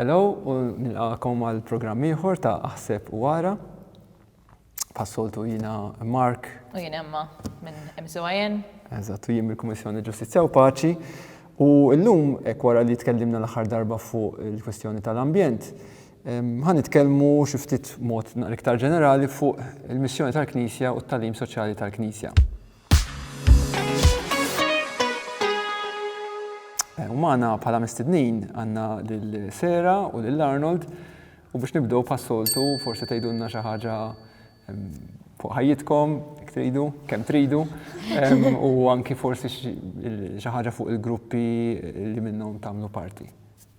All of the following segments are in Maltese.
Hello u nilqagħkom għal programm ieħor ta' Aħseb u Ara. Bħas-soltu jiena Mark. U jien Emma minn MCYN. Eżatt, u jien mill-Kummissjoni Ġustizzja u Paċi. U llum hekk wara li tkellimna l-aħħar darba fuq il-kwistjoni tal-ambjent, ħa nitkellmu xi ftit mod naqra iktar ġenerali fuq il-missjoni tal-Knisja u t-tagħlim soċjali tal-Knisja. U magħna bħala mistednin għandna lil Sera u lil Arnold u biex nibdew pas-soltu forsi tgħidulna xi ħaġa fuq ħajjitkom, jekk tridu, kemm tridu, u anki forsi xi ħaġa fuq il-gruppi li minnhom tagħmlu parti.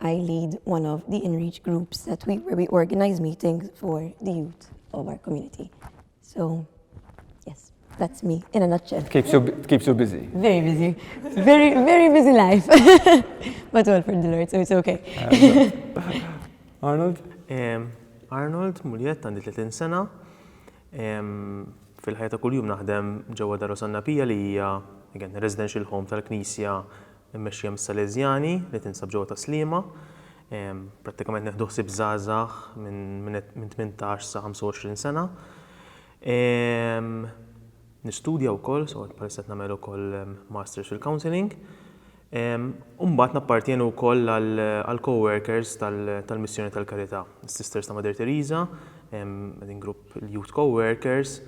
I lead one of the inreach groups that we where we organize meetings for the youth of our community. So yes, that's me in a nutshell. It keeps you it keeps you busy. Very busy. Very very busy life. But all for the Lord, so it's okay. Arnold? Um, Arnold Muljett għandi 30 sena. Fil-ħajja ta' kuljum naħdem ġewwa Daru Sannapija li hija again residential home tal-Knisja immexxija mis-Salesjani li tinsab ġewwa Tas-Sliema. Prattikament nieħdu ħsieb żgħażagħ minn tmintax sa 25 sena. Nistudja wkoll, so bħalissa qed nagħmel ukoll Masters fil-Counselling. U mbagħad nappartjeni wkoll għall-co-workers tal-Missjoni tal-Karità, is-Sisters ta' Mother Teresa, qegħdin grupp il-Youth Co-workers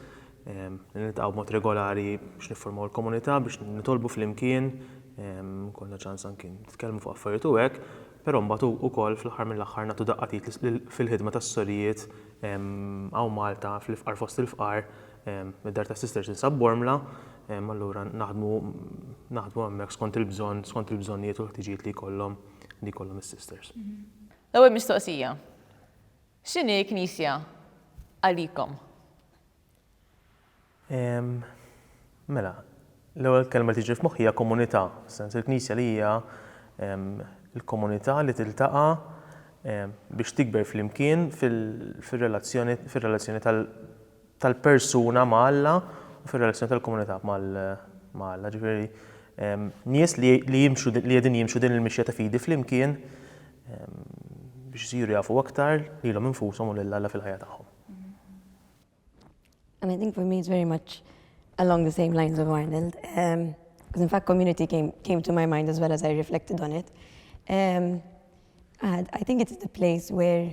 li niltaqgħu b'mod regolari biex nifformaw il-komunità, biex nitolbu flimkien, ikollna ċans anki nitkellmu fuq affarijiet u hekk, però mbagħad ukoll fl-aħħar mill-aħħar nagħtu daqqa t'id fil-ħidma tas-sorijiet hawn Malta, fl-ifqar fost il-fqar, id-Dar tas-Sisters tinsab Bormla, allura naħdmu naħdmu hemmhekk skont il-bżonn, skont il-bżonnijiet u l-ħtiġijiet li jkollhom li jkollhom is-Sisters. L-ewwel mistoqsija. X'inhi l-Knisja għalikom? Ehm, mela, l-ewwel kelma li tiġi f'moħħi hija komunità, fis-sens il-Knisja li hija ehm, l-komunità li tiltaqa' ehm, biex tikber flimkien fir-relazzjoni tal- tal-persuna ma' Alla u fir-relazzjoni tal-komunità ma' Alla. Ġifieri, nies li li jimxu li qegħdin jimxu din il-mixja ta' fidi flimkien biex isiru jafu aktar lilhom infushom u lil Alla fil-ħajja tagħhom. And I think for me it's very much along the same lines of Arnold. Um, in fact community came, came to my mind as well as I reflected on it. Um, I think it's the place where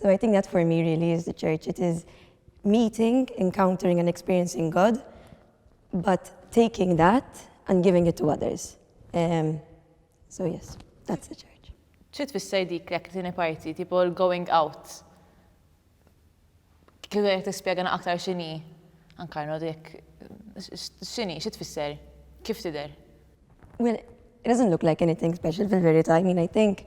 So I think that for me really is the church. It is meeting, encountering and experiencing God, but taking that and giving it to others. Um, so yes, that's the church. ċi tfisser dik l tini parti, tipo l-going out? Kif għek t-spiegħana aktar xini? Ankarno dik, xini, ċi tfisser? Kif tider? Well, it doesn't look like anything special fil-verita. I mean, I think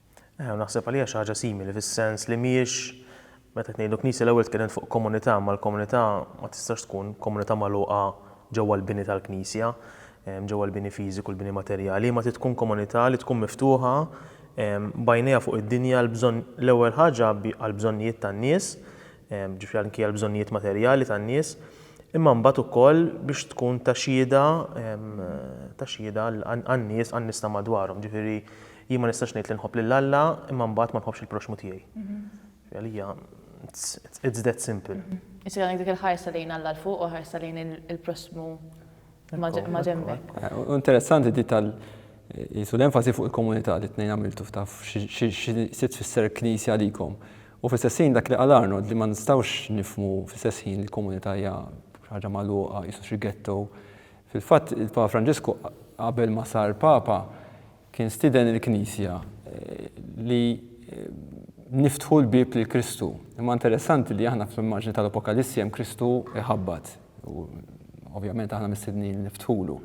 Eħe, u naħseb għalija xi ħaġa simili, fis-sens li mhijiex, meta qed ngħidu knisja l-ewwel tkellmet fuq komunità, ma l-komunità ma tistax tkun komunità magħluqa ġewwa l-bini tal-knisja, ġewwa l-bini fiżiku, l-bini materjali, imma trid tkun komunità li tkun miftuħa b'għajnejha fuq id-dinja għall-bżonn, l-ewwel ħaġa għall-bżonnijiet tan-nies, ġifieri anki għall-bżonnijiet materjali tan-nies, imma mbagħad ukoll biex tkun ta' xhieda, ta' xhieda għan-nies, għan-nies ta' madwarhom, ġifieri, Jien ma nistax ngħid li nħobb lil Alla imma mbagħad ma nħobbx il-proxxmu tiegħi. Għalija it's that simple. Isir għandek dik il-ħarsa lejn Alla 'l fuq u ħarsa lejn il-proxxmu ma' ġenbek. Interessanti di tal qisu l-enfasi fuq il-komunità li t-tnejn għamiltu ftaf xi tfisser il-Knisja għalikom. U fl-istess ħin dak li qal Arnold li ma nistgħux nifhmu fl-istess ħin li l-komunità hija ħaġa magħluqa qisu xi ghetto. Fil-fatt il-Papa Franġisku qabel ma sar Papa Kien stieden il-Knisja li niftħu l-bieb lil Kristu. Imma interessanti li aħna fl-immaġni tal-Apokalissi hemm Kristu jħabbat u ovvjament aħna mistednin li niftħulu.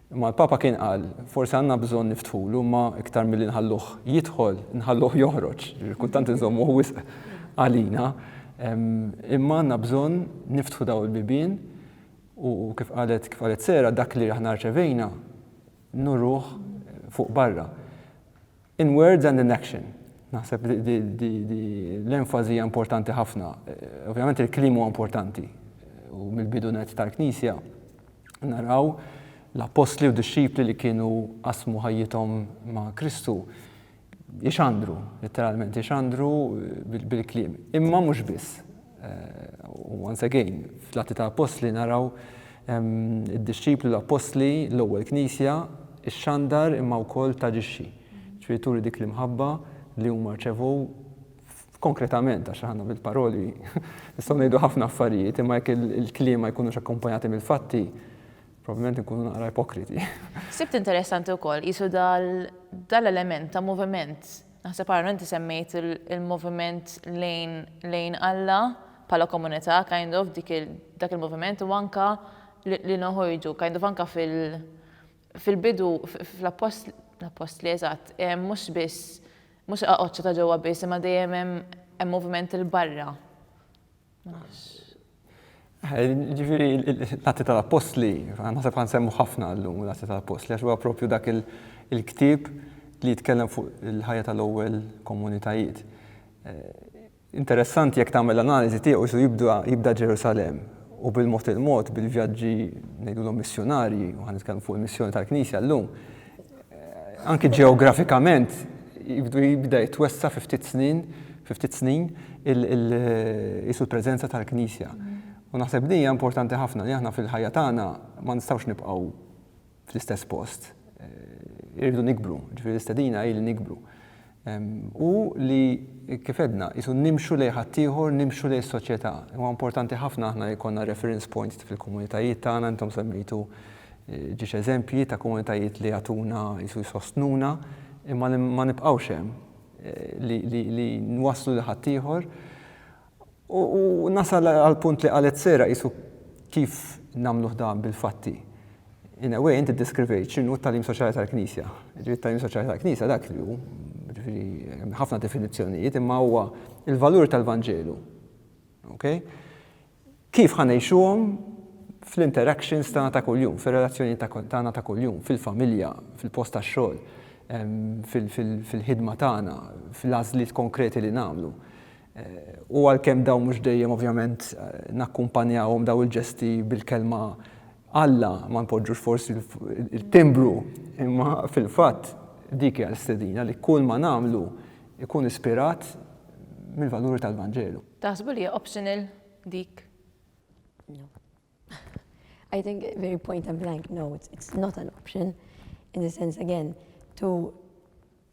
Imma l-Papa kien qal, forsi għandna bżonn niftħulu imma iktar milli nħalluh jidħol, nħalluh joħroġ, kultant inżommuh wisq għalina. Imma għandna bżonn niftħu dawn il-bibien u kif qalet kif qalet Sera dak li aħna rċevejna nuruh fuq barra. In words and in action. Naħseb li l-enfażi hija importanti ħafna. Ovvjament il-kliem huwa importanti. U mill-bidu nett tal-Knisja naraw l-appostli u d-dixxipli li kienu qasmu ħajjithom ma' Kristu jixandru, letteralment jixandru bil-kliem. Imma mhux biss. Eh, u once again, fl-atti ta' apostli naraw ehm, id-disċipli l-apostli l-ewwel knisja ix-xandar imma wkoll taġixxi. Ġifieri turi dik l-imħabba li huma rċevu konkretament, għax ħanna bil-paroli, nistgħu ngħidu ħafna affarijiet, imma jekk il-kliem ma jkunux akkumpanjati mill-fatti, Probabbilment inkunu naqra ipokriti. Sibt interessanti wkoll qisu dal-element ta' moviment. Naħseb Aaron inti semmejt il-moviment lejn Alla bħala komunità kind of dak il-moviment u anke li noħorġu kind of anke fil-bidu fl-appostli eżatt mhux biss mhux aqgħodx ta' ġewwa biss imma dejjem hemm moviment 'il barra. Ma nafx. Ġifieri l-Atti tal-Appostli, naħseb ħa nsemmu ħafna llum l-Atti tal-Appostli għax huwa proprju dak il-ktieb li jitkellem fuq il-ħajja tal-ewwel komunitajiet. Interessanti jekk tagħmel analiżi tiegħu isu jibda Ġerusalemm u bil-mod il-mod bil-vjaġġi ngħidulhom missjunarji, u ħa nitkellmu fuq il-missjoni tal-Knisja llum, anki ġeografikament jibdu jibda jitwessa fi ftit snin, fi ftit snin isu l-preżenza tal-Knisja. U naħseb din hija importanti ħafna li aħna fil-ħajja tagħna ma nistgħux nibqgħu fl-istess post. Irridu nikbru, ġifieri l-istedina hi li nikbru. Hu li, kif għedna, qisu nimxu lejn ħaddieħor, nimxu lejn is-soċjetà. Huwa importanti ħafna aħna li jkollna reference points fil-komunitajiet tagħna, intom semmejtu ġiex eżempji ta' komunitajiet li jagħtuna qisu jsostnuna, imma li ma nibqgħux hemm, li nwasslu lil ħaddieħor. U nasal għall-punt li qalet Sarah, qisu kif nagħmluh dan bil-fatti. In a way, inti ddeskrivejt x'inhu t-tagħlim soċjali tal-Knisja. Jiġifieri t-tagħlim soċjali tal-Knisja dak li hu, jiġifieri hemm ħafna definizzjonijiet, imma huwa l-valuri tal-Vanġelu. Okay? Kif ħa ngħixuhom fl-interactions tagħna ta' kuljum, fir-relazzjonijiet tagħna ta' kuljum, fil-familja, fil-post tax-xogħol, fil-ħidma tagħna, fil-għażliet konkreti li nagħmlu. U għalkemm dawn mhux dejjem ovvjament nakkumpanjawhom dawn il-ġesti bil-kelma Alla, ma npoġġux forsi l-timbru, imma fil-fatt dik hija l-istedina li kull ma nagħmlu jkun ispirat mill-valuri tal-Vanġelu. Taħsbu li hija optional dik? No. I think very point and blank no, it's not an option in the sense again to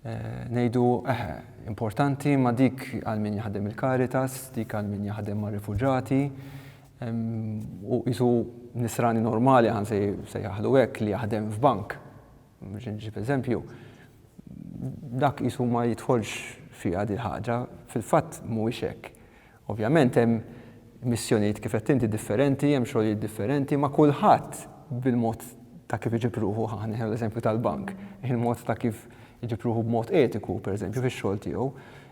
Ngħidu, eħe, importanti, imma dik għal min jaħdem il-Caritas, dik għal min jaħdem mar-rifuġati, u qisu nisrani normali ħa nsejjaħlu hekk li jaħdem f'bank, biex inġib eżempju, dak qisu ma jidħolx fiha dil-ħaġa, fil-fatt mhuwiex hekk. Ovvjament hemm missjonijiet kif għedt inti differenti, hemm xogħlijiet differenti, ma' kulħadd bil-mod ta' kif iġib ruħu, ħa nieħu l-eżempju tal-bank, il-mod ta' kif iġib ruħu b'mod etiku, pereżempju, fix-xogħol tiegħu,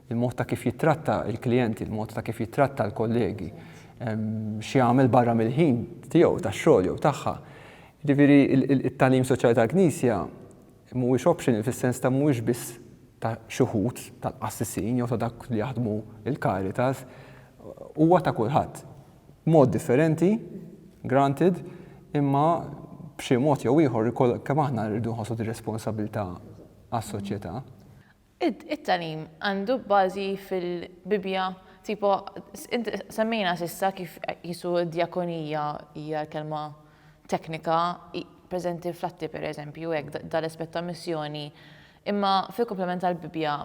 il-mod ta' kif jittratta l-klijenti, il-mod ta' kif jittratta l-kollegi, x'jagħmel barra mill-ħin tiegħu tax-xogħol jew tagħha. Jiġifieri, it-tagħlim soċjali tal-Knisja Mhuwiex optional fis-sens ta' mhuwiex biss ta' xi wħud tal-qassisin jew ta' dawk li jaħdmu l-Caritas, huwa ta' kulħadd. B'mod differenti, granted, imma b'xi mod jew ieħor il-koll kemm aħna rridu nħossu din ir-responsabbiltà għas-soċjetà. It-tagħlim għandu bażi fil-Bibbja, tipo semmejna s'issa kif qisu d-djakonija hija l-kelma teknika preżenti fl-Atti pereżempju hekk dan l-aspett ta' missjoni, imma fil-kumplament tal-Bibbja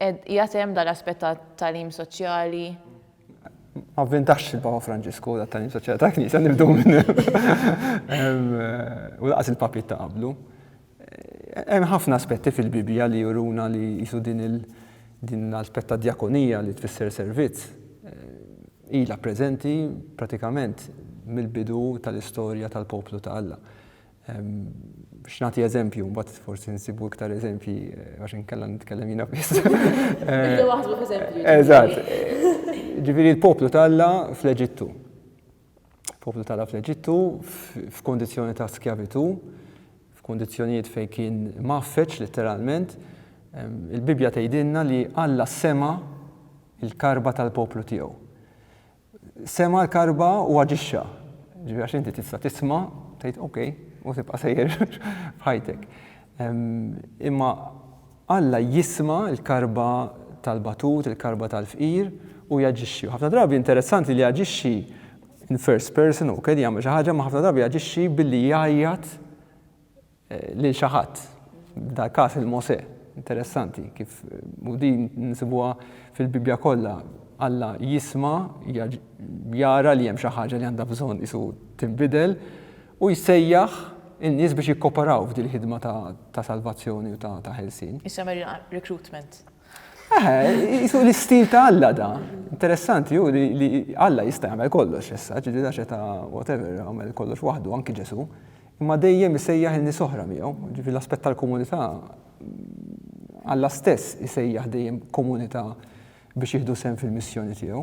qiegħed hemm dan l-aspett ta' tagħlim soċjali? Ma vvintax il-Papa Franġisku tat-tagħlim soċjali tal-Knisja nibdew minn hemm u lanqas il-papiet ta' qablu. Hemm ħafna aspetti fil-Bibbja li juruna li qisu din il din l-aspett tad-djakonija li tfisser servizz ilha preżenti pratikament mill-bidu tal-istorja tal-poplu ta' Alla. Biex nagħti eżempju, mbagħad forsi nsibu iktar eżempji għax inkella nitkellem jiena biss. Eżatt. Ġifieri l-poplu ta' Alla fl-Eġittu. poplu tala' fl-Eġittu f'kundizzjoni ta' skjavitù, f'kundizzjonijiet fejn kien mgħaffeġ litteralment, il-Bibbja tgħidilna li Alla sema' l-karba tal-poplu tiegħu. Sema' l-karba u aġixxa. Ġifieri għax inti tista' tisma' tgħid okej u tibqa' sejjer f'ħajtek. Imma Alla jisma' l-karba tal-batut, il-karba tal-fqir, u jaġixxi. U ħafna drabi interessanti li jaġixxi in first person, hu qiegħed jagħmel xi ħaġa, imma ħafna drabi jaġixxi billi jgħajjat lil xi ħadd, f'dal-każ lil Mosè. Interessanti kif, u din nsibuha fil-Bibbja kollha, Alla jisma', jara li hemm xi ħaġa li għandha bżonn qisu tinbidel, Hu jsejjaħ in-nies biex jikkoperaw f'din il-ħidma ta' salvazzjoni u ta' ħelsien. Issa meriqa recruitment. Eħe, jisu l-istil ta' Alla da. Interessanti hu li Alla jista' jagħmel kollox issa, ġieli daxe ta' whatever, jagħmel kollox waħdu, anki Ġesu. Imma dejjem isejjaħ in-nies oħra miegħu, ġieli l-aspett tal-komunità Alla stess isejjaħ dejjem komunità biex jieħdu sehem fil-missjoni tiegħu.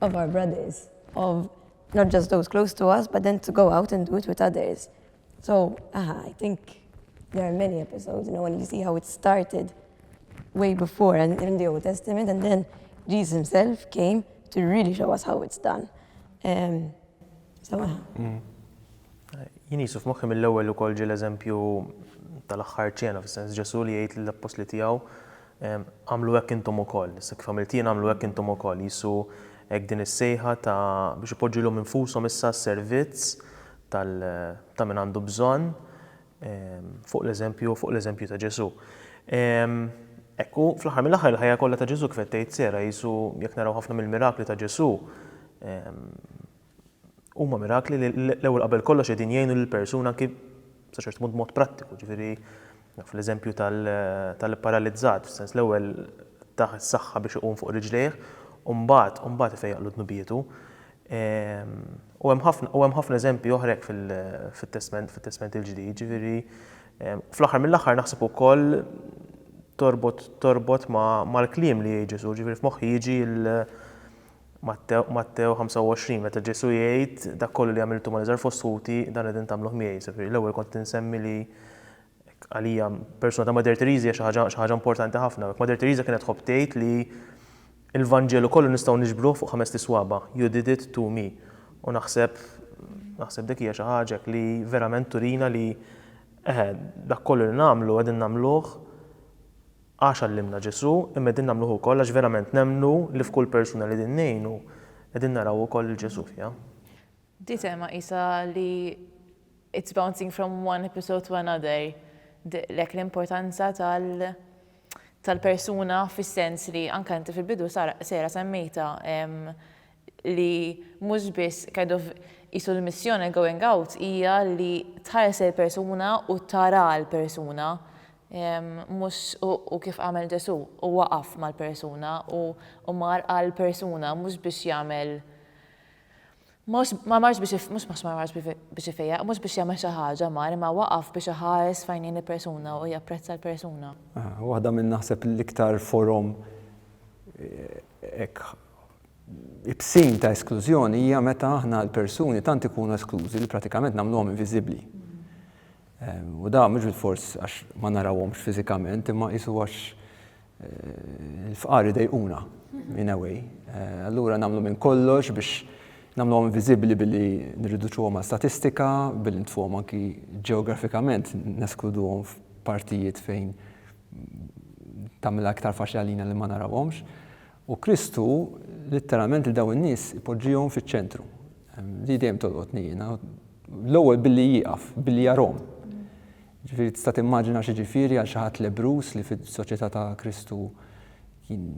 of our brothers, of not just those close to us, but then to go out and do it with others. So, aha, I think there are many episodes, you know, and you see how it started way before and in the Old Testament, and then Jesus himself came to really show us how it's done. Um, so, aha. Mm. Jien jisuf moħħi mill-ewwel ukoll ġie l-eżempju tal-aħħar ċena, fis-sens Ġesu li jgħid l-appostli tiegħu Agħmlu hekk intom ukoll. Issa kif għamilt jien, agħmlu hekk intom ukoll. Qisu hekk din is-sejħa ta' biex ipoġġu lilhom infushom issa għas-servizz tal, ta' min għandu bżonn, fuq l-eżempju, fuq l-eżempju ta' Ġesù. Hekk hu, fl-aħħar mill-aħħar, il-ħajja kollha ta' Ġesù, kif qed tgħid Sarah, qisu jekk naraw ħafna mill-mirakli ta' Ġesù, Huma mirakli li l-ewwel qabel kollox qegħdin jgħinu lill-persuna anki sa ċertu punt b'mod prattiku, ġifieri naf l-eżempju tal-paralizzat, fis-sens l-ewwel tah is-saħħa biex iqum fuq riġlejh u mbagħad u mbagħad ifejjaqlu dnubietu. U hemm ħafna u hemm ħafna eżempji oħra hekk fit-Testment fit-Testment il-Ġdid, ġifieri fl-aħħar mill-aħħar naħseb ukoll torbot torbot mal-kliem li jgħid Ġesù, ġifieri f'moħħi jiġi Mattew, Mattew 25, meta Ġesù jgħid, Dak kollu li għamiltu mal-iżgħar fost ħuti, dan qegħdin tagħmluh miegħi. Jiġifieri l-ewwel kont qed insemmi li hekk għalija persuna ta' Mother Teresa hija xi ħaġa xi ħaġa importanti ħafna. Hekk Mother Teresa kienet tħobb tgħid li l-Vanġelu kollu nistgħu niġbruh fuq ħamest iswaba', you did it to me. U naħseb naħseb dik hija xi ħaġa hekk li verament turina li eħe, dak kollu li nagħmlu qegħdin nagħmluh Għax għallimna Ġesù, imma qegħdin nagħmluh ukoll għax verament nemmnu li f'kull persuna li qegħdin ngħinu, qegħdin naraw ukoll lil Ġesù fiha. Di tema qisha li it's bouncing from one episode to another, dehqlek l-importanza tal-persuna fis-sens li anke inti fil-bidu Sarah semmejtha li mhux biss kind of qisu l-missjoni going out hija li tħares lill-persuna u tara l-persuna. Mhux u kif għamel Ġesù, u waqaf mal-persuna u u mar għall-persuna mhux biex jagħmel mhux ma marx biex mhux mhux ma marx biex ifejjaq, mhux biex jagħmel xi ħaġa mar imma waqaf biex iħares f'għajnejn il-persuna u japprezza l-persuna. Waħda minn naħseb l-iktar forom hekk ibsin ta' esklużjoni hija meta aħna l-persuni tant ikunu esklużi li pratikament nagħmluhom inviżibbli. U dan mhux bilfors għax ma narawhomx fiżikament, imma qisu għax il-fqar idejquna, in a way. Allura nagħmlu minn kollox biex nagħmluhom inviżibbli billi nirriduċuhom għal statistika, billi ntfuhom anki ġeografikament, neskluduhom f'partijiet fejn tagħmilha iktar faċli għalina li ma narawhomx. U Kristu litteralment lil dawn in-nies ipoġġihom fiċ-ċentru. Di dejjem tolqotni jiena. L-ewwel billi jieqaf, billi jarahom. Ġifieri tista' timmaġina x'jiġifieri għal xi ħadd lebbruż li fis-soċjetà ta' Kristu kien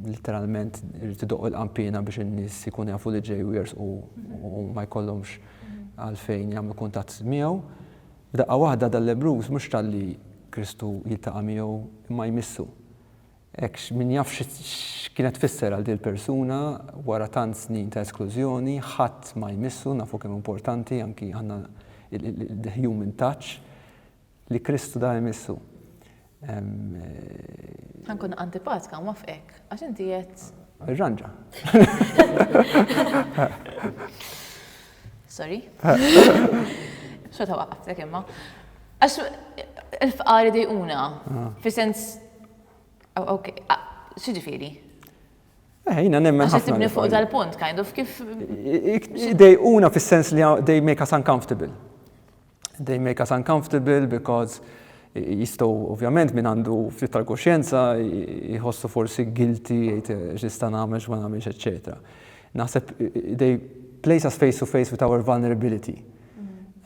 litteralment irid idoqq il-qanpiena biex in-nies ikunu jafu li ġej u jersqu u ma jkollhomx għalfejn jagħmlu kuntatt miegħu. F'daqqa waħda dal-lebbruż mhux talli Kristu jiltaqa' miegħu imma jmissu. Hekk min jaf x'kienet tfisser għal din il-persuna wara tant snin ta' esklużjoni, ħadd ma jmissu, nafu kemm hu importanti anki aħna the human touch li Kristu da jmissu. Ħa nkun antipatka u nwafqek, għax inti qed. Irranġa. Sorry. Xorta waqqaftek imma. Għax il-fqari dejquna, ah. fi sens. Oh, ok, ah, xġifiri. Eh, jina nemmen ħafna. Tibni fuq dal-punt, kind of, kif. Dejquna fis sens li they make us uncomfortable. they make us uncomfortable because jistgħu ovvjament min għandu ftit tal-kuxjenza jħossu forsi guilty jgħid eh, x'nista' nagħmel x'ma nagħmilx eċetera. Naħseb they place us face to face with our vulnerability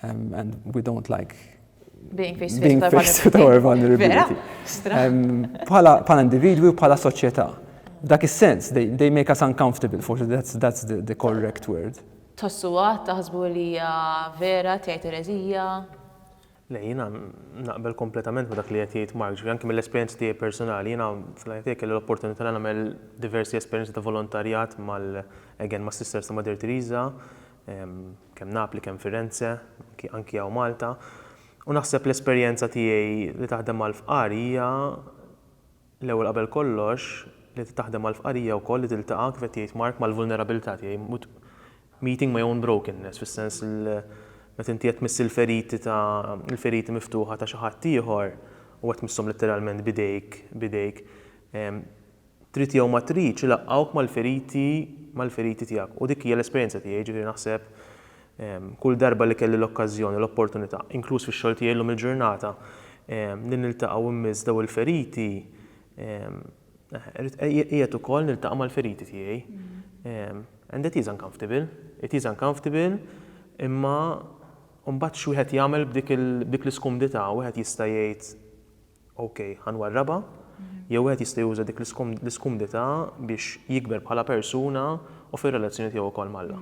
um, and we don't like being face to face, face with our vulnerability. Um, bħala um, individwi u bħala soċjetà. Dak is-sens, they, they make us uncomfortable, forse that's, that's the, the correct word. Tħossuha, taħsbu li hija vera, tgħid ereżija? Le, jiena naqbel kompletament ma' dak li qed jgħid Mark, anki mill-esperjenzi tiegħi personali. Jiena fl-ħajja tiegħi kelli l-opportunità li nagħmel diversi esperjenzi ta' volontarjat mal, again, mas-Sisters ta' Mother Teresa, kemm Napli, kemm Firenze, anki anki hawn Malta. U naħseb l-esperjenza tiegħi li taħdem mal-fqar hija, L-ewwel qabel kollox, li trid taħdem mal-fqar hija wkoll li tiltaqa' kif qed jgħid Mark mal-vulnerabilità tiegħi, meeting my own brokenness, fis-sens li meta inti qed tmiss il-feriti ta' il-feriti miftuħa ta' xi ħadd ieħor u qed tmisshom litteralment b'idejk b'idejk, trid jew ma tridx ilaqqgħuk mal-feriti mal-feriti tiegħek. U dik hija l-esperjenza tiegħi, jiġifieri naħseb Kull darba li kelli l-okkażjoni u l-opportunità, inkluż fix-xogħol tiegħi llum il-ġurnata, li niltaqa' u nmiss dawn il-feriti, qiegħed ukoll niltaqa' mal-feriti tiegħi. And it is uncomfortable, it is uncomfortable, imma mbagħad x'wieħed jagħmel b'dik l-iskumdità, wieħed jista' jgħid OK, ħa nwarrabha, jew wieħed jista' juża dik l-iskumdità biex jikber bħala persuna u fir-relazzjoni tiegħu wkoll ma' Alla.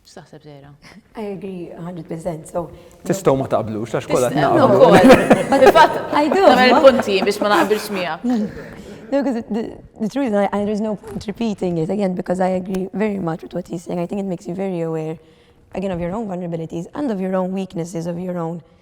X'taħseb Zehra? I agree 100%. So Tistgħu ma taqblux għax kollha naqblu. Fil-fatt, I do. Nagħmel punti biex ma naqbilx miegħek. No, because the, the truth is, I, I, there's no point repeating it again because I agree very much with what he's saying. I think it makes you very aware, again, of your own vulnerabilities and of your own weaknesses, of your own uh,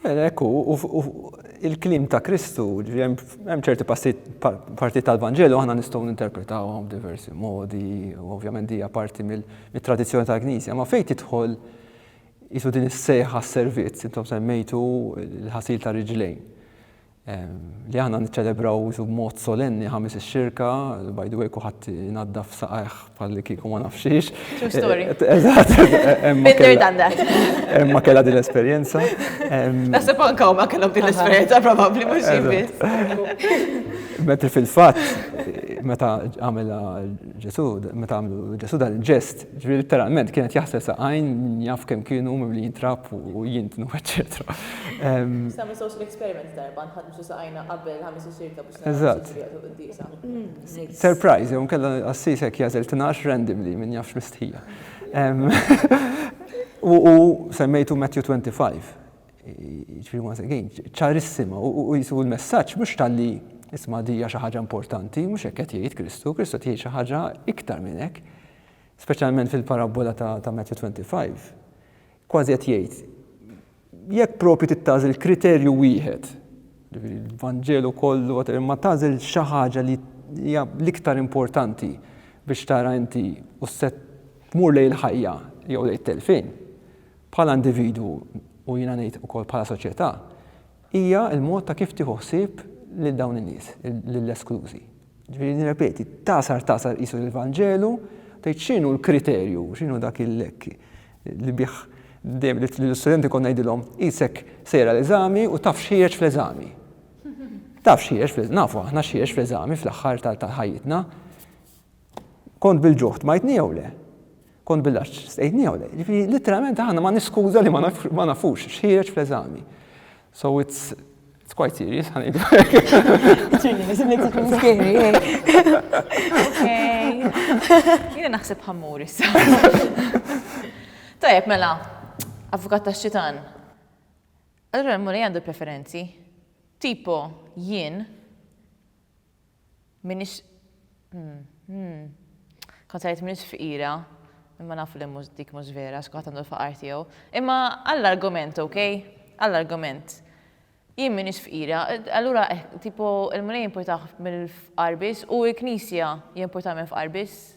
Hekk hu, u il-kliem ta' Kristu, hemm ċerti partijiet tal-Vanġelu aħna nistgħu ninterpretawhom b'diversi modi, u ovvjament hija parti mit-tradizzjoni tal-Knisja, ma fejn tidħol qisu din is-sejħa għas-servizz, intom semmejtu l-ħasil tar-riġlejn. Li aħna niċċelebraw isu b'mod solenni Ħamis ix-Xirka, by the way kulħadd inaddaf saqajh bħalli kieku ma nafx xiex. True story. Eżatt. Been there, done that. Emma kellha din l-esperjenza. Naħseb anke huma kellhom din l-esperjenza probabbli mhux jien biss. Mentri fil-fatt meta għamilha Ġesù, meta għamlu Ġesù dan il-ġest, Ġifieri letteralment kien qed jaħsel saqajn min jaf kemm kienu mimlijin trab u jintnu eċċetera. Sami social experiment darba nħadmsu saqajna qabel ħamis u sirta biex naraw x'jiġri waqt il-quddiesa. Surprise jew inkella qassis hekk jagħżel tnax randomly min jaf x'mistħija. U semmejtu Matthew 25. ċarissima u jisu l-messaġġ mhux talli isma' dija xi ħaġa importanti, mhux hekk qed jgħid Kristu, Kristu qed jgħid xi ħaġa iktar minn hekk, speċjalment fil-parabbola ta' Matthew 25. Kważi qed jgħid jekk propju tittażel kriterju wieħed, il-Vanġelu kollu, ma tażel xi ħaġa li hija l-iktar importanti biex tara inti u set tmur lejn il-ħajja jew lejn telfin. bħala individwu u jiena ngħid ukoll bħala soċjetà, hija l-mod ta' kif tieħu ħsieb lil dawn in-nies, lill-esklużi. Ġifieri nirrepeti, tagħsar tagħsar qisu l-Vanġelu, tgħid x'inhu l-kriterju, x'inhu dak il-lekk li bih dejjem lill-istudenti kont ngħidilhom qisek sejra l-eżami u taf x'ħieġ fl-eżami. Taf x'ħieġ fl-eżami, nafu aħna x'ħieġ fl-eżami fl-aħħar tal-ħajjitna. Kont bil-ġuħd majtni jew le? Kont bil-għaġġ stqejtniha u le. Jiġifieri litteralment aħna ma niskuża li ma nafux x'ħiereġ fl-eżami. So it's It's quite serious, ħan idu. Jina naħseb ħammur issa. Tajab, mela, avukat ta' xitan. Allora, l-mulej għandu preferenzi. Tipo, jien, M'iniex Kont se ngħid m'iniex fqira, imma nafu li mhux dik mhux vera għax kulħadd għandu l-faqar tiegħu. Imma għall-argument, okej? Għall-argument. Jien m'iniex fqira, allura eh, tipo il-Mulej jimpurtah mill-fqar biss u l-Knisja jimpurtha mill-fqar biss?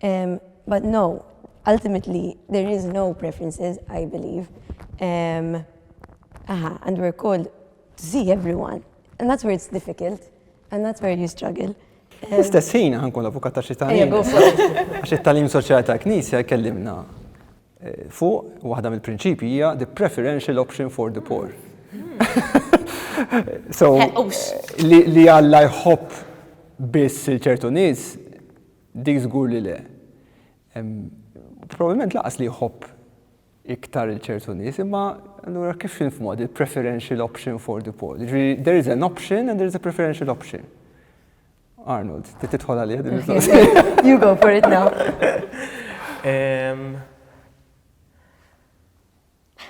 But no, ultimately there is no preferences I believe um, aha, and we're called to see everyone and that's where it's difficult and that's where you struggle. L-istess ħin ħankun avukat ta' xi talim. Għax it-talim soċjali ta' knisja jkellimna eh, fuq waħda mill-prinċipji hija the preferential option for the poor. so li Alla jħobb biss il-ċertu nies Dik żgur li le. Probabbilment lanqas li jħobb iktar lil ċertu nies, imma allura kif infhmuha din il-preferential option for the poor? Jiġri there is an option and there is a preferential option. Arnold, trid tidħol għalija din il-mistoqsija. You go for it now.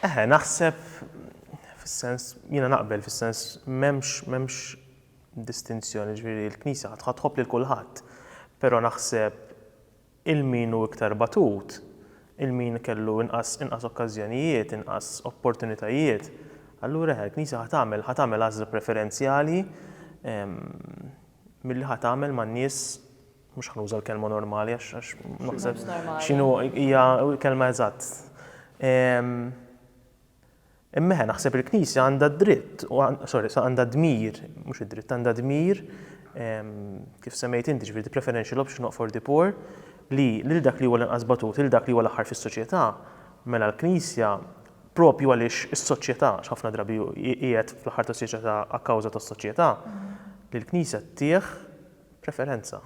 Eħe, naħseb fis-sens, jiena naqbel fis-sens m'hemmx m'hemmx distinzjoni, ġifieri l-Knisja ħa ħa tħobb lil kulħadd, però naħseb il min hu iktar batut, il min kellu inqas inqas okkażjonijiet, inqas opportunitajiet, allura eħe, l-Knisja ħa tagħmel ħa tagħmel għażla preferenzjali milli ħa tagħmel man-nies mhux ħa nuża l-kelma normali għax għax naħseb Mhux normali. x'inhu hija l-kelma eżatt. Ehm, Imma ħe, naħseb il-Knisja għandha d-dritt, u għan- sorry, sa għandha dmir, mhux id-dritt, għandha dmir, ehm, kif semmejt inti ġifieri preferential option not for the poor, li lil dak li huwa l-inqas batut, lil dak li huwa l-aħħar fis-soċjetà, mela l-Knisja propju għaliex is-soċjetà, għax ħafna drabi hi- qiegħed fl-aħħar tas-soċjetà a kawża tas-soċjetà, li l-Knisja tih Preferenza.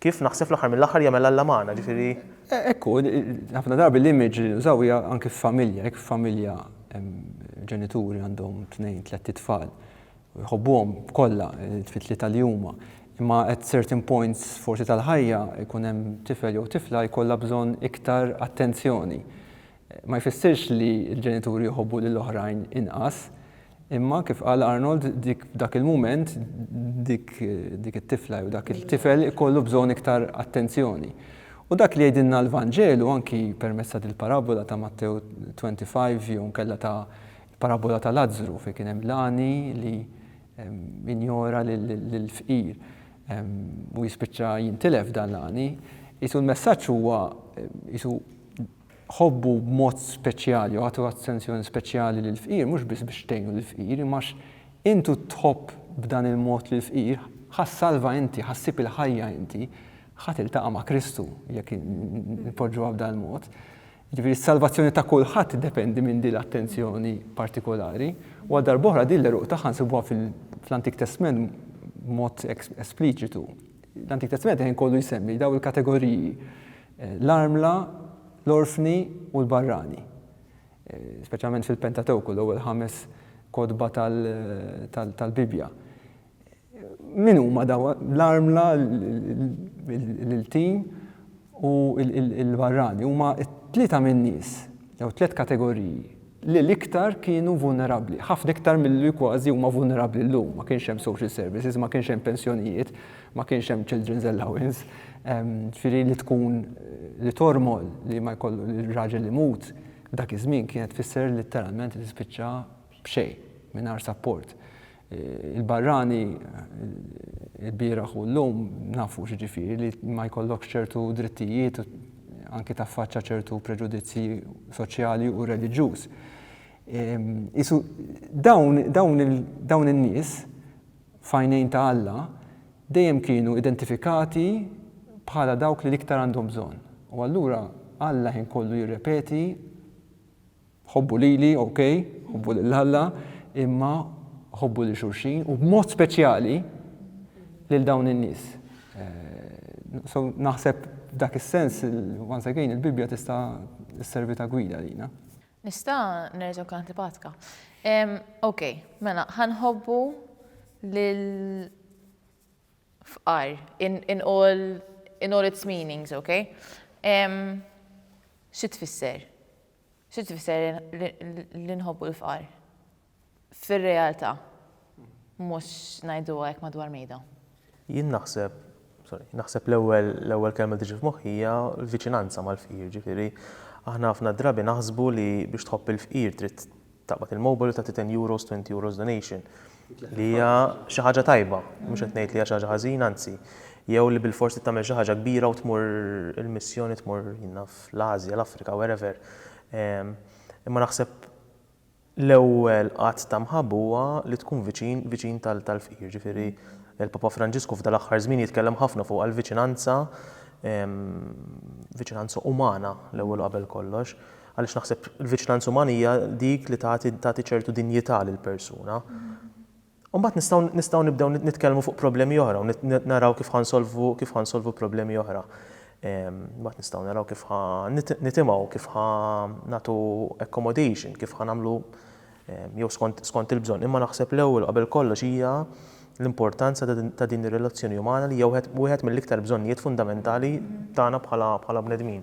Kif naħseb fl-aħħar mill-aħħar jagħmel Alla magħna, ġifieri. Hekk hu, ħafna drabi l-image li nużaw hija anke f'familja, jekk f'familja ġenituri għandhom tnejn, tlett itfal, jħobbuhom kollha t-tlieta li huma, imma at certain points forsi tal-ħajja jkun hemm tifel jew tifla jkollha bżonn iktar attenzjoni. Ma jfissirx li l-ġenituri jħobbu lil oħrajn inqas, imma kif qal Arnold dik f'dak il-mument dik dik it-tifla jew dak il-tifel ikollu bżonn iktar attenzjoni. U dak li jgħidilna l-Vanġelu anki permezz ta' dil-parabbola ta' Mattew 25 jew inkella ta' l-parabbola ta' Lazzru fejn kien hemm l-għani li injora lill-fqir u jispiċċa jintilef dan l-għani, qisu l-messaġġ huwa qisu Ħobbu b'mod speċjali u agħtu attenzjoni speċjali lill-fqir, mhux biss biex tgħinu lill-fqir, imma għax int u tħobb b'dan il-mod lill-fqir, ħa ssalva inti, ħa ssib il-ħajja inti, ħa tiltaqa' ma' Kristu, jekk inpoġġuha b'dan il-mod. Jiġifieri s-salvazzjoni ta' kulħadd tiddependi minn din l-attenzjoni partikolari, u għal darb'oħra din l-għeruq tagħha nsibuha fl-Antik Testment b'mod espliċitu. L-Antik Testament il-ħin kollu jsemmi dawn il-kategoriji, l-armla, l-orfni u l-barrani. Speċjalment fil-Pentatewku, l-ewwel ħames kotba tal-Bibbja. Min huma dawn l-armla, l-iltiem u l-barrani? Huma tlieta min-nies jew tliet kategoriji. li l-iktar kienu vulnerabbli, ħafna iktar milli kważi huma vulnerabbli llum. Ma kienx hemm social services, ma kienx hemm pensjonijiet, ma kienx hemm children's allowance, ġifieri li tkun li tormol li ma jkollu li r-raġel imut f'dak iż-żmien kienet tfisser litteralment li tispiċċa b'xejn, mingħajr sapport. Il-barrani il-bieraħ u llum nafu x'jiġifieri li ma jkollokx ċertu drittijiet u anki taffaċċa ċertu preġudizzji soċjali u reliġjuż. Isu dawn, dawn, dawn in-nies fajnejn ta' Alla dejjem kienu identifikati bħala dawk li l-iktar għandhom bżonn. U allura Alla ħin kollu jirrepeti Ħobbu lili, okej, ħobbu lil Alla, imma ħobbu lil xulxin u b'mod speċjali lil dawn in-nies. So naħseb f'dak is-sens, once again, il-Bibbja tista' sservi ta' gwida lina. Nista' nerġa' nkun antipatika. Okej, mela, ħanħobbu lil fqar in all in all its meanings, okej? Xi tfisser? Xi tfisser li nħobbu l-fqar? Fir-realtà, mhux ngħiduha hekk madwar mejda. Jien naħseb, sorry, naħseb l-ewwel l-ewwel kelma li tiġi f'moħħi hija l-viċinanza mal-fqir, ġifieri aħna ħafna drabi naħsbu li biex tħobb il-fqir trid taqbad il-mobile u tagħti ten euros, twenty euros donation. Li hija xi ħaġa tajba, mhux qed ngħid li hija xi ħaġa ħażina, anzi. Jew li bilfors trid tagħmel xi ħaġa kbira u tmur il-missjoni tmur jien naf l-Ażja, l-Afrika, wherever. Imma naħseb l-ewwel att ta' mħabba huwa li tkun viċin, viċin tal-fqir. Jiġifieri l-Papa Franġisku f'dan l-aħħar żmien jitkellem ħafna fuq għall-viċinanza, viċinanza umana l-ewwel u qabel kollox. Għaliex naħseb il-viċinanza umana hija dik li tagħti tagħti ċertu dinjità lill-persuna. U mbagħad nistgħu nistgħu nibdew nitkellmu fuq problemi oħra u naraw kif ħansolvu kif ħansolvu problemi oħra. Ehm, mbagħad nistgħu naraw kif ħa nitimgħu, kif ħa nagħtu accommodation, kif ħa nagħmlu ehm, jew skont, skont il-bżonn. Imma naħseb l-ewwel qabel kollox hija l-importanza ta' din ir-relazzjoni umana li hija wieħed mill-iktar bżonnijiet fundamentali tagħna bħala bħala bnedmin.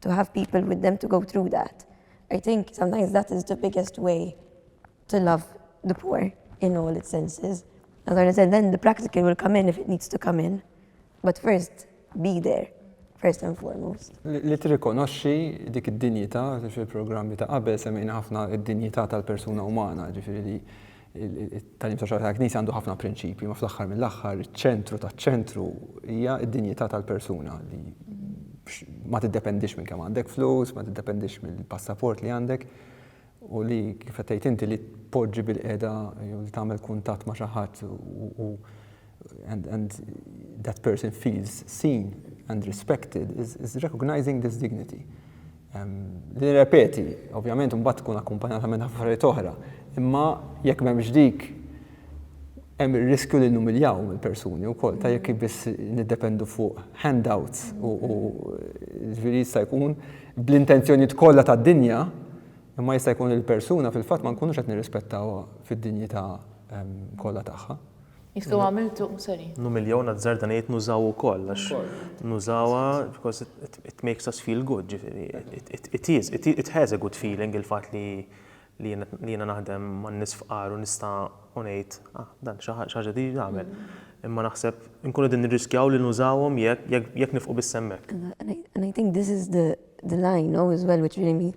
to have people with them to go through that. I think sometimes that is the biggest way to love the poor in all its senses. As I said, then the practical will come in if it needs to come in. But first, be there, first and foremost. Li tirrikonoxxi dik id-dinjità fil-programmi ta' qabel semmejna ħafna id-dinjità tal-persuna umana, ġifieri li It-tagħlim soċjali tal-Knisja għandu ħafna prinċipji, imma fl-aħħar mill-aħħar iċ-ċentru taċ-ċentru hija d-dinjità tal-persuna li ma tiddependix minn kemm għandek flus, ma tiddependix mill-passaport li għandek u li kif qed tgħid inti li tpoġġi bil-qiegħda jew li tagħmel kuntatt ma' xi ħadd u and, and that person feels seen and respected is, is recognizing this dignity. Li repeti, ovvjament, mbagħad tkun akkumpanjata minn affarijiet oħra, imma jekk m'hemmx dik hemm ir-riskju li numiljaw il-persuni wkoll ta' jekk biss niddependu fuq handouts u ġifieri jista' jkun bl-intenzjonijiet kollha tad-dinja imma jista' jkun il-persuna fil-fatt ma nkunux qed nirrispettaw fid-dinjità kollha tagħha. Jistgħu għamiltu, sorry. Nu miljown azzard għana jgħid nużaw ukoll, għax nużawha because it, it makes us feel good, ġifieri. It, it, it is, it, it has a good feeling il-fatt li li jiena naħdem man nies fqar u nista' u ngħid, ah, dan xi ħaġa di nagħmel. Mm-hmm. Imma naħseb nkunu din nirriskjaw li nużawhom jekk nifqu bis-semmek. And I think this is the, the line, no, as well, which really means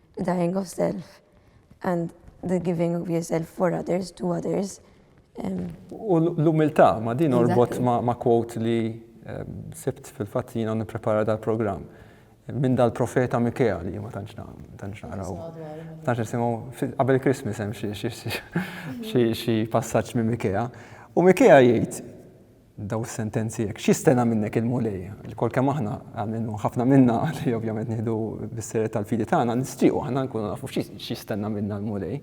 dying of self and the giving of yourself for others to others. U l-umiltà, ma din orbot ma quote li sibt fil-fatt jina niprepara dal-programm minn dal-profeta Mikea li ma tantx naqraw. Tantx nisimgħu qabel Christmas hemm xi passaġġ minn Mikea. U Mikea jgħid Dawn is-sentenzi hekk. X'jistenna minnek il-Mulej? Ilkoll kemm aħna għamilnu ħafna minna li ovvjament nieħdu bis-serjetà l-fidi tagħna, nixtiequ aħna nkunu nafu x'jistenna minna l-Mulej.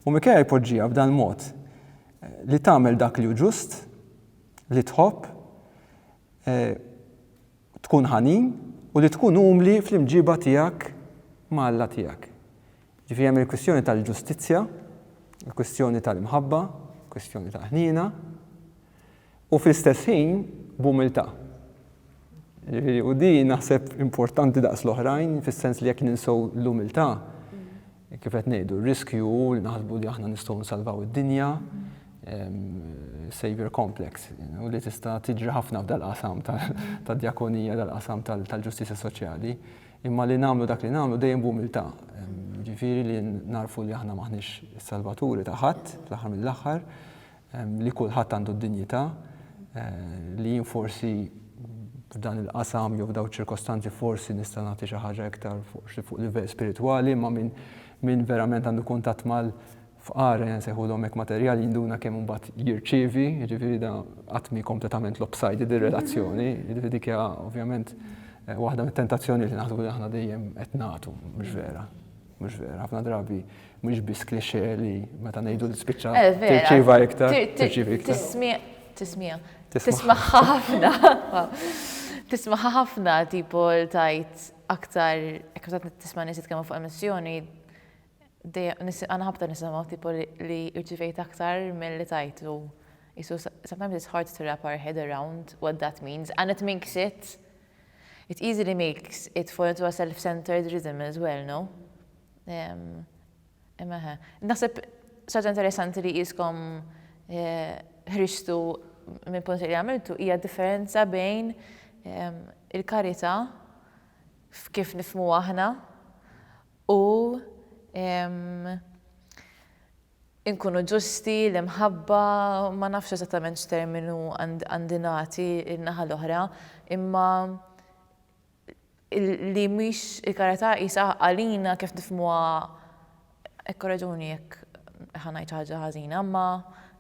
U Mikea jpoġġiha f'dan il-mod, li tagħmel dak li hu ġust, li tħobb, tkun ħanin u li tkun umli fl-imġiba tiegħek ma' Alla tiegħek. Ġifieri hemm il-kwistjoni tal-ġustizzja, il-kwistjoni tal-imħabba, il-kwistjoni tal-ħniena, U fl-istess ħin b'umiltà. Jiġifieri, u din naħseb importanti daqs l-oħrajn, fis-sens li jekk ninsew l-umiltà, kif qed ngħidu, r-riskju hu li naħsbu li aħna nistgħu nsalvaw id-dinja, savior complex, u li tista' tiġri ħafna f'dal-qasam tad-djakonija, dal-qasam tal-ġustizzja soċjali, imma li nagħmlu dak li nagħmlu dejjem b'umiltà. Jiġifieri li nagħrfu li aħna m'aħniex is-salvaturi ta' ħadd, fl-aħħar mill-aħħar, li kulħadd għandu d-dinjità, li jien forsi f'dan il-qasam jew f'dawn iċ-ċirkostanzi forsi nista' nagħti xi ħaġa iktar forsi fuq livell spiritwali, imma min min verament għandu kuntatt mal fqar nsejħulhom hekk materjali jinduna kemm imbagħad jirċievi, jiġifieri da qatt mhi kompletament lopsided ir-relazzjoni, jiġifieri dik hija ovvjament waħda mit-tentazzjonijiet li naħsbu li aħna dejjem qed nagħtu, mhux vera. Mhux vera, ħafna drabi mhux biss klixe li meta ngħidu tispiċċa eh, tirċiva iktar, tirċiva iktar. Tismija, tismija. Tisma' ħafna. Tisma' ħafna tipo tajt aktar, ekk ta' tisma' nies jitkellmu fuq emissjoni, għana ħabta nisimgħu tipo li irċivejt aktar mill-li tajtu. So sometimes it's hard to wrap our head around what that means, and it makes it It easily makes it for into a self-centered rhythm as well, no? Imma eħe. Naħseb saġa interessanti li jiskom eh, ħriġtu minn punt li għamiltu hija differenza bejn il-karità f'kif nifmu aħna u inkunu ġusti, l-imħabba, ma nafx eżattament x'terminu għandi nagħti lin-naħa l-oħra, imma li mhix il-karità qisha għalina kif nifhmuha ikkoreġuni jekk ħa ngħid xi ħaġa ħażina, imma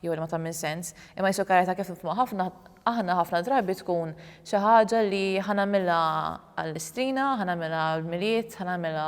jew li ma tagħmilx sens, imma qisha l-karità kif nifhmuha ħafna aħna ħafna drabi tkun xi ħaġa li ħa nagħmilha għall-istrina, ħa nagħmilha għall-Milied, ħa nagħmilha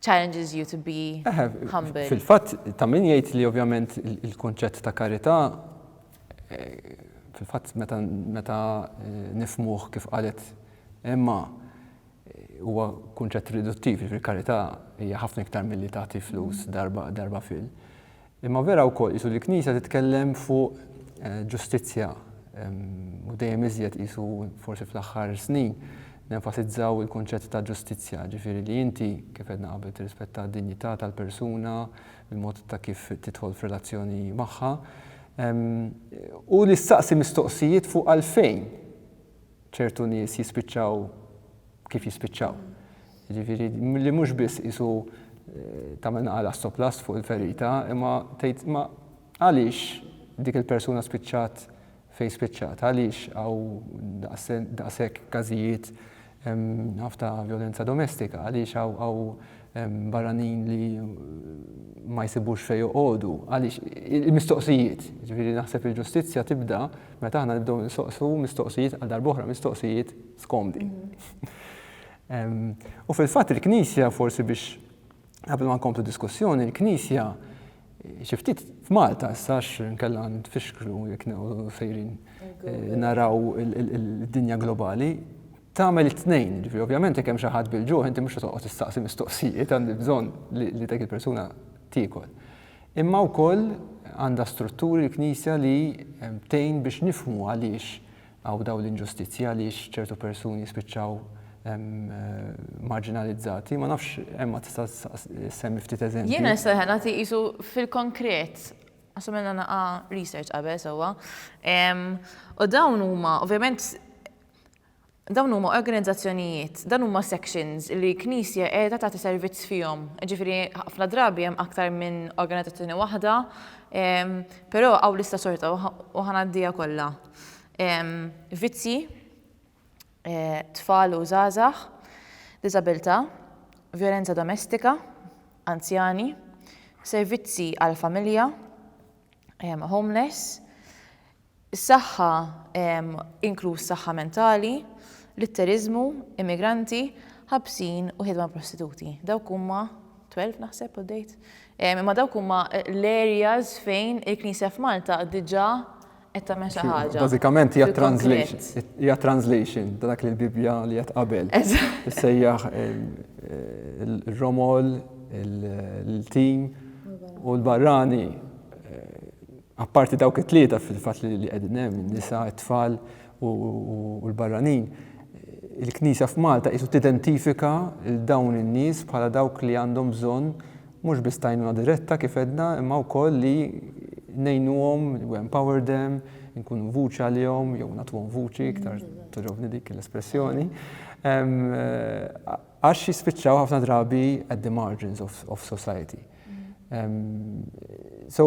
challenges you to be humble. Fil-fatt ta' min jgħid li ovvjament il-kunċett ta' karità fil-fatt meta nifmuh kif qalet Emma huwa kunċett riduttiv, jiġifieri karità hija ħafna iktar milli tagħti flus darba fil. Imma vera wkoll qisu li l-Knisja titkellem fuq ġustizzja u dejjem iżjed qisu forsi fl-aħħar snin nenfasizzaw il-kunċett ta' ġustizzja, ġifieri li inti, kif għedna qabel, tirrispetta d-dinjità tal-persuna, il-mod ta' kif tidħol f'relazzjoni magħha, u li ssaqsi mistoqsijiet fuq għalfejn ċertu nies jispiċċaw kif jispiċċaw. Ġifieri li mhux biss isu eh, tagħmel naqal assoplast fuq il-ferita, imma tgħid ma għaliex dik il-persuna spiċċat fejn spiċċat, għaliex għaw daqshekk każijiet ħafna violenza domestika, għaliex għaw barranin li ma jsibux fej joqogħdu, għaliex il-mistoqsijiet, ġifieri naħseb il-ġustizzja tibda meta aħna nibdew nistaqsu mistoqsijiet għal darbohra mistoqsijiet skomdi. U fil-fatt il-Knisja forsi biex qabel ma nkomplu diskussjoni, il-Knisja xi ftit f'Malta sax nkella nfixklu jekk sejrin eh, naraw id-dinja globali tagħmel it-tnejn, ġifieri ovvjament jekk hemm xi ħadd bil-ġuħ inti mhux toqgħod tistaqsi mistoqsijiet għandi bżonn li dak il-persuna tiekol. Imma wkoll għandha strutturi l-Knisja li tgħin biex nifhmu għaliex Hawn dawn l-inġustizzji għaliex ċertu persuni spiċċaw marġinalizzati. Ma nafx Emma tista' semmi ftit eżempji. Jiena nista' nagħti qisu fil-konkret għax għamilna naqa' research qabel sewwa. U dawn huma ovvjament dawn huma organizzazzjonijiet, dan huma sections li knisja qiegħda tagħti servizz fihom. Ġifieri ħafna drabi hemm aktar minn organizzazzjoni waħda, però hawn lista xorta u ħa ngħaddiha kollha. vizzji, tfal u żgħażagħ, diżabilità, vjolenza domestika, anzjani, servizzi għall-familja, homeless, is-saħħa inkluż saħħa mentali, litteriżmu, immigranti, ħabsin u ħidma prostituti. Dawk huma 12 naħseb u dejt. Imma dawk huma l-areas fejn il-Knisja f'Malta diġà Qed tagħmel xi ħaġa. Bażikament hija translation, hija translation ta' dak li l-Bibbja li qed qabel. Sejjaħ il-romol, il-tim u l-barrani apparti dawk it-tlieta fil-fatt li qegħdin hemm, nisa, it-tfal u l-barranin il-Knisja f'Malta qisu tidentifika dawn in-nies bħala dawk li għandhom bżonn Mhux biss t'għajnuna diretta kif għedna imma wkoll li ngħinuhom, we empower them, inkunu vuċi għalihom jew nagħtuhom vuċi, iktar togħġobni dik l-espressjoni, għax jispiċċaw ħafna drabi at the margins of, of society. So,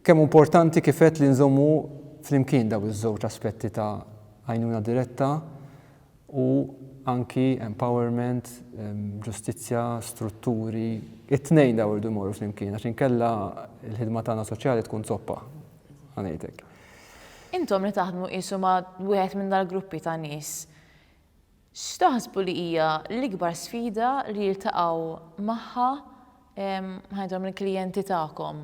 kemm importanti kif għedt li nżommu flimkien daw iż-żewġ aspetti ta' għajnuna diretta u anki empowerment, ġustizzja, strutturi, it-tnejn dawn irdu jmorru flimkien għax inkella l-ħidma tagħna soċjali tkun zoppa, ħa ngħidlek. Intom li taħdmu qisu ma' wieħed minn dal-gruppi ta' nies, x'taħsbu li hija l-ikbar sfida li jiltaqgħu magħha, ħa ngħidilhom il-klijenti tagħkom?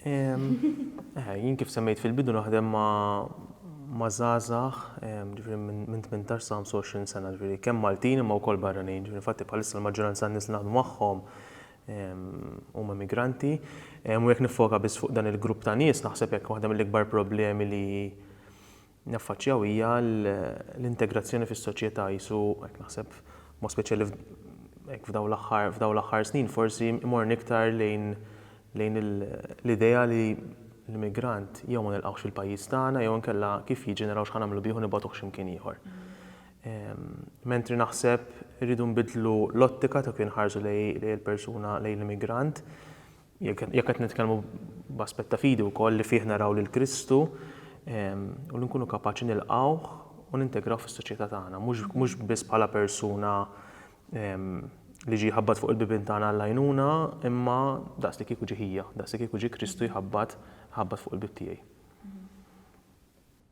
Jien kif semmejt fil-bidu naħdem ma' żgħażagħ ġifieri minn 18 sa 25 sena, ġifieri kemm Maltin imma wkoll barranin. Ġifieri infatti bħalissa l-maġġoranza tan-nies li naħdmu magħhom huma immigranti. U jekk niffoka biss fuq dan il-grupp ta' nies naħseb jekk waħda mill-ikbar problemi li naffaċċjaw hija l-integrazzjoni fis-soċjetà qisu hekk naħseb b'mod speċjali hekk f'dawn l-aħħar f'dawn l-aħħar snin forsi imorni iktar lejn lejn l-idea li l-immigrant jew ma nilqgħux fil-pajjiż tagħna jew inkella kif jiġi naraw x'ħa nagħmlu bih u nibgħatuh xi mkien ieħor. Mentri naħseb irridu nbiddlu l-ottika ta' kif inħarsu lejn il-persuna lejn l-immigrant Jekk qed nitkellmu b'aspett ta' fidi wkoll li fih naraw lil Kristu u li nkunu kapaċi nilqgħuh u nintegraw fis-soċjetà tagħna, mhux biss bħala persuna li ġie jħabbat fuq il-bibien tagħna għall-għajnuna, imma daqs li kieku ġie ħija, daqs li kieku ġie Kristu jħabbat fuq il-bieb tiegħi.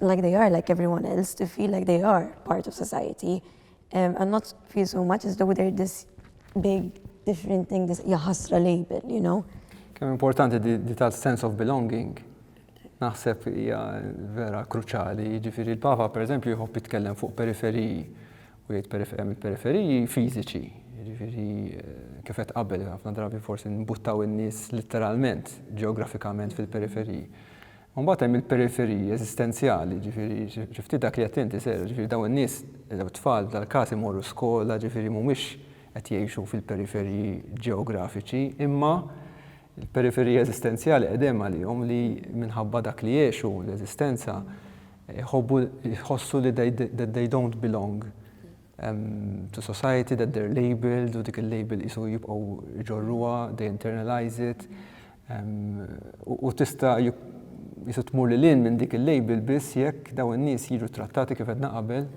like they are like everyone else to feel like they are part of society um, and not feel so much as though they're this big different thing this jaħasra label you know Kemm importanti di tal sense of belonging naħseb hija vera kruċali, ġifiri l-Papa per eżempju jħobb jitkellem fuq periferiji u jgħid periferiji fiżiċi, ġifiri eh, kifet qabel ħafna drabi forsi nbuttaw in-nies literalment ġeografikament fil-periferiji. U mbagħad hemm il-periferiji eżistenzjali, jiġifieri xi ftit dak li għedt inti, Sera, jiġifieri dawn in-nies, dawn it-tfal f'dal-każ imorru skola, jiġifieri mhumiex qed jgħixu fil-periferiji ġeografiċi, imma l-periferiji eżistenzjali qed hemm għalihom li minħabba dak li jgħexu, l-eżistenza, iħobbu, jħossu li they don't belong. to society that they're labeled u dik il-label qisu jibqgħu jġorruha, they internalize it. U tista' jisu tmur li lin minn dik il-label biss jekk daw in-nies jiġu trattati kif qedna qabel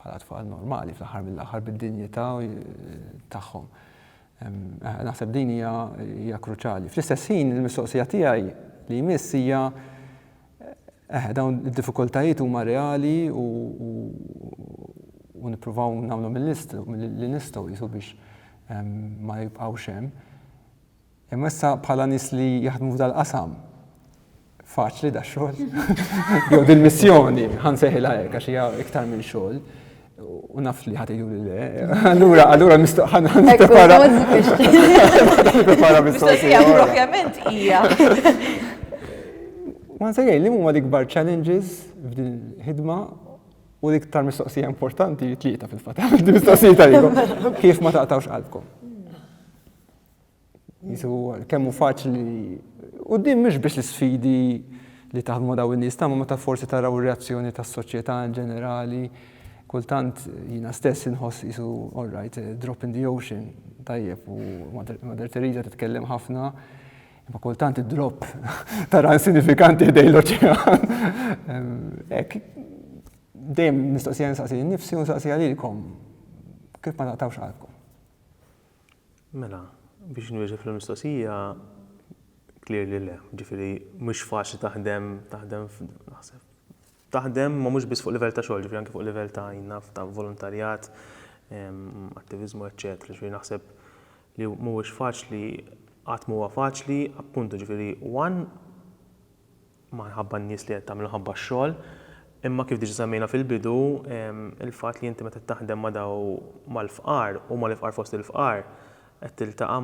bħala tfal normali fl-aħħar mill-aħħar bid-dinjità tagħhom. Naħseb din hija kruċali. Fl-istess ħin il-mistoqsija tiegħi li jmiss hija Eħe, dawn id-diffikultajiet huma reali u u nippruvaw nagħmlu mill-li nistgħu qisu biex ehm, ma jibqgħux hemm. Imma issa bħala nies li jaħdmu f'dal qasam faċli da xogħol. Jew dil-missjoni, ħan seħilha hekk għax hija iktar minn xogħol. U nafx li ħati juri le. Allura, allura mistoqħan għan prepara. Prepara mistoqħan. Ovvjament, ija. Ma nsejjaj, li mumma l-ikbar challenges f'din ħidma u l-iktar mistoqsija importanti tlieta fil-fatt. Mistoqsija tal Kif ma taqtawx qalbkom? Jisu kemmu faċli. U din mhux biex l-sfidi li taħdmu daw in-nies ta' ma ta' forsi taraw reazzjoni tas-soċjetà in ġenerali. Kultant jiena stess inħoss jisu all right, eh, drop in the ocean, tajjeb u Mother Teresa titkellem ħafna. Ma kultant id-drop tara insignifikanti ħdej l-oċean. Ek, dejjem nistoqsija nsaqsi nifsi u nsaqsi għalilkom kif ma taqtawx qalbkom. Mela, biex nwieġeb fil-mistoqsija, clear li le. Ġifieri mhux faċli taħdem, taħdem naħseb, taħdem ma mhux biss fuq livell ta' xogħol, ġifieri anke fuq livell ta' naf ta' volontarjat, attiviżmu, eċċetera. Ġifieri naħseb li mhuwiex faċli, qatt m'huwa faċli, appuntu ġifieri one, ma nħabba n-nies li qed tagħmel nħabba x-xogħol, imma kif diġa semmejna fil-bidu, il-fatt li inti meta taħdem ma' daw mal-fqar u mal-ifqar fost il-fqar, qed tiltaqa'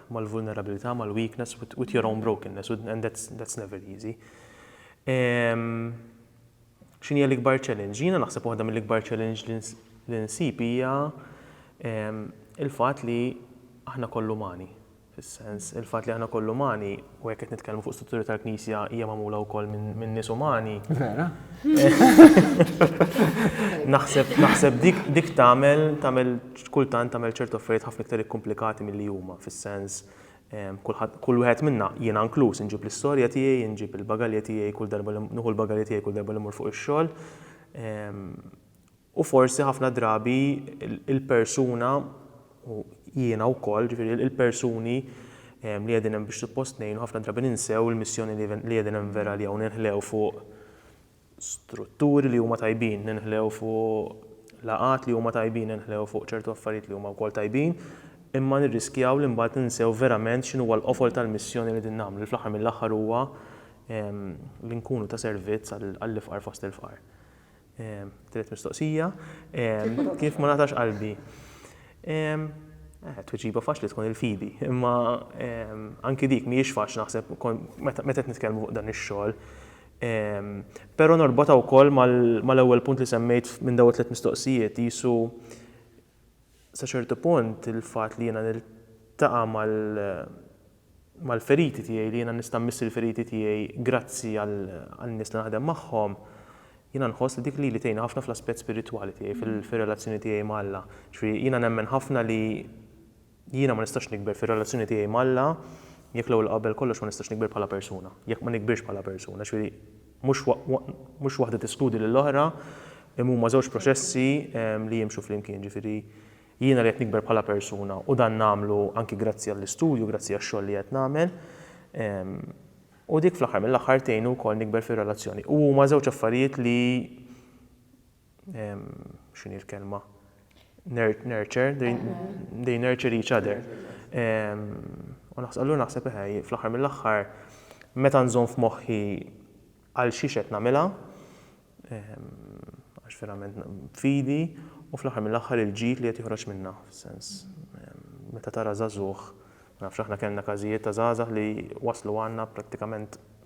mal-vulnerabilità, mal-weakness with your own brokenness and that's never easy. X'inhi hija l-ikbar challenge? Jiena naħseb waħda mill-ikbar challenge li nsib hija il-fatt li aħna kollha umani. fis-sens, il-fatt li aħna wkoll umani, u jekk qed nitkellmu fuq strutturi tal-Knisja hija magħmula wkoll minn nies umani. Vera. Naħseb naħseb dik dik tagħmel tagħmel kultant tagħmel ċertu affarijiet ħafna iktar ikkumplikati milli huma fis-sens ehm, kull wieħed minna jiena inkluż inġib l-istorja tiegħi, inġib il-bagalja tiegħi kull darba li nuħu l-bagalja tiegħi kull darba li mur fuq ix-xogħol. Ehm, U forsi ħafna drabi il-persuna, u jiena wkoll, ġifieri il-persuni li qegħdin hemm biex suppost ngħinu ħafna drabi ninsew il-missjoni li qegħdin hemm vera għaliha u ninħlew fuq strutturi li huma tajbin, ninħlew fuq laqgħat li huma tajbin, ninħlew fuq ċertu affarijiet li huma wkoll tajbin, imma nirriskjaw li mbagħad ninsew verament x'inhu huwa l-qofol tal-missjoni li qegħdin nagħmlu li fl-aħħar mill-aħħar huwa li nkunu ta' servizz għall-ifqar fost il-fqar. Tielet mistoqsija, kif ma ngħatax qalbi? Tweġiba faċli tkun il-fidi, imma anki dik mhijiex faċli naħseb meta qed nitkellmu fuq dan ix-xogħol. Però norbotha wkoll mal-ewwel punt li semmejt minn dawn it-tliet mistoqsijiet, qisu Sa ċertu punt il-fatt li jiena niltaqa' mal-feriti tiegħi, li jiena nista' mmiss il-feriti tiegħi grazzi għan-nies li naħdem magħhom, jiena nħoss li dik lili tgħinni ħafna fl-aspett spiritwali tiegħi, fir-relazzjoni tiegħi ma' Alla. Jiġifieri jiena nemmen ħafna li Jiena ma nistax nikber fir-relazzjoni tiegħi m'Alla jekk l-ewwel qabel kollox ma nistax nikber bħala persuna, jekk ma nikbirx bħala persuna. Ġifieri mhux mhux waħda teskludi lill-oħra, imma huma żewġ proċessi li jimxu flimkien. Ġifieri jiena li qed nikber bħala persuna u dan nagħmlu anki grazzi għall-istudju, grazzi għax-xogħol li qed nagħmel, u dik fl-aħħar mill-aħħar tgħinni wkoll nikber fir-relazzjoni. U huma żewġ affarijiet li x'inhi l-kelma, nurture, they nurture each other. U naħseb, naħseb eħe, fl-aħħar mill-aħħar, meta nżomm f'moħħi għal xiex qed nagħmilha, għax verament fidi, u fl-aħħar mill-aħħar il-ġid li qed joħroġ minnha, fis-sens, meta tara żagħżugħ, ma nafx aħna kellna każijiet ta' żgħażagħ li waslu għandna prattikament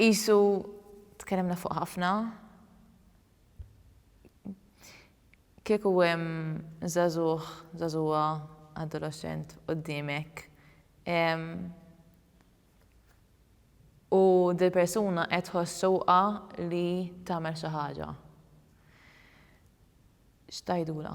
Qisu tkellimna fuq ħafna. Kieku hemm żagħżugħ, żagħżugħa, adoloxxent quddiemek u dil-persuna qed tħoss xewqa li tagħmel xi ħaġa, x'tgħidulha?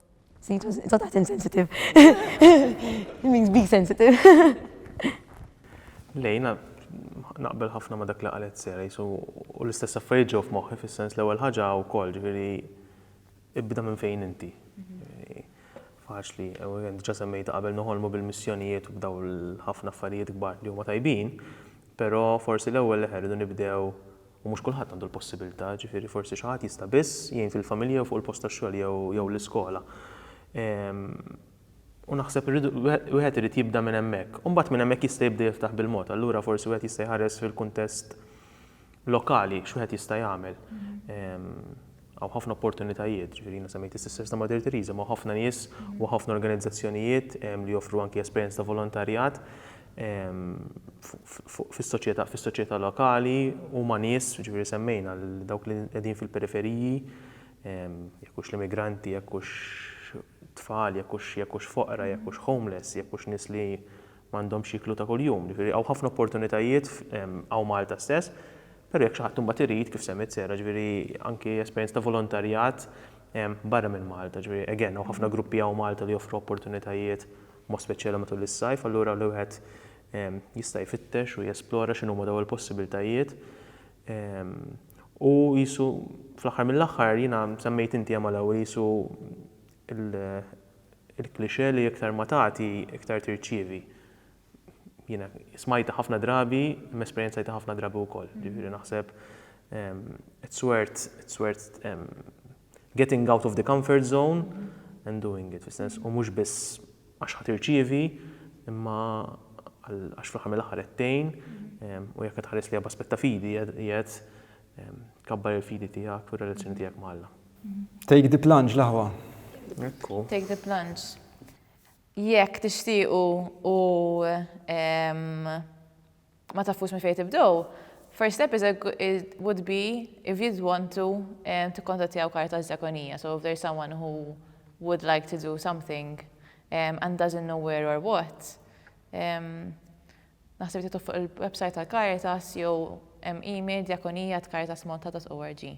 Sejtu insensitive. It means be sensitive. Le, jiena naqbel ħafna ma' dak li qalet Sera, jisu u l-istess affarijiet ġew f'moħħi fis-sens l-ewwel ħaġa wkoll, ġifieri ibda minn fejn inti. Faċli, u diġà semmejta qabel noħolmu bil-missjonijiet u b'daw l-ħafna affarijiet kbar li huma tajbin, però forsi l-ewwel leħen irridu nibdew U mhux kulħadd għandu l-possibilità, jiġifieri forsi xi ħadd jista' biss jgħin fil-familja jew fuq il-post tax-xogħol jew l-iskola. U naħseb irridu, wieħed irid jibda minn hemmhekk. U mbagħad minn hemmhekk jista' jibda jiftaħ bil-mod. Allura forsi wieħed jista' jħares fil-kuntest lokali x'wieħed jista' jagħmel. Hawn ħafna opportunitajiet, ġifieri jiena semmejt is-Sisters ta' Mother Teresa, ma' ħafna nies u ħafna organizzazzjonijiet li joffru anki esperjenza ta' volontarjat fis-soċjetà lokali u ma' nies, ġifieri semmejna lil dawk li qegħdin fil-periferiji, jekk hux l-immigranti, jekk hux tfal, jekk hux jekk hux foqra, jekk hux homeless, jekk hux nies li m'għandhomx x'jieklu ta' kuljum. Ġifieri hawn ħafna opportunitajiet hawn Malta stess, però jekk xi ħadd imbagħad irid, kif semmiet Sarah, ġifieri anki esperjenza ta' volontarjat barra minn Malta. Ġifieri again hawn ħafna gruppi hawn Malta li joffru opportunitajiet b'mod speċjali matul is-sajf, allura li wieħed jista' jfittex u jesplora x'inhuma dawn il-possibiltajiet. U qisu fl-aħħar mill-aħħar jiena semmejt inti hemm għal-ewwel qisu l-cliché li iktar ma tagħti iktar tirċievi. Jiena smajtha ħafna drabi, imma esperjenzajtha ħafna drabi wkoll. Jiġifieri naħseb it's worth it's worth Getting out of the comfort zone and doing it, fis-sens u mhux biss għax ħa tirċievi, imma għax fl-aħħar mill-aħħar qed tgħin u jekk qed tħares lejha b'aspett ta' fidi qiegħed tkabbar il-fidi tiegħek u r-relazzjoni tiegħek ma' Alla. Take the plunge l-aħwa. Ekku. Take the plunge. Jekk tixtiequ u ma tafux minn fejn tibdew, first step is a, would be if you'd want to eh, tikkontattjaw Caritas Diakonia. So if there's someone who would like to do something eh, and doesn't know where or what, eh, naħseb tituf fuq il-website tal-Caritas jew email diakonia at caritasmonta.org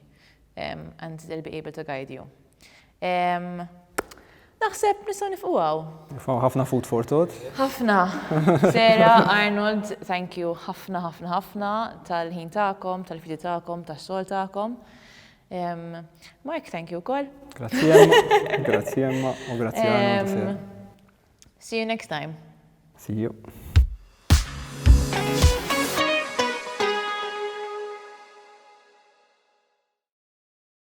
and they'll be able to guide you. Naħseb nistgħu nifqu hawn. Nifqu ħafna food for thought. Ħafna. Sera, Arnold, thank you ħafna ħafna ħafna tal-ħin tagħkom, tal-fidi tagħkom, tas-sol tagħkom. Mark, thank you wkoll. Grazzi Emma, grazzi Emma u grazzi Arnold. See you next time. See you.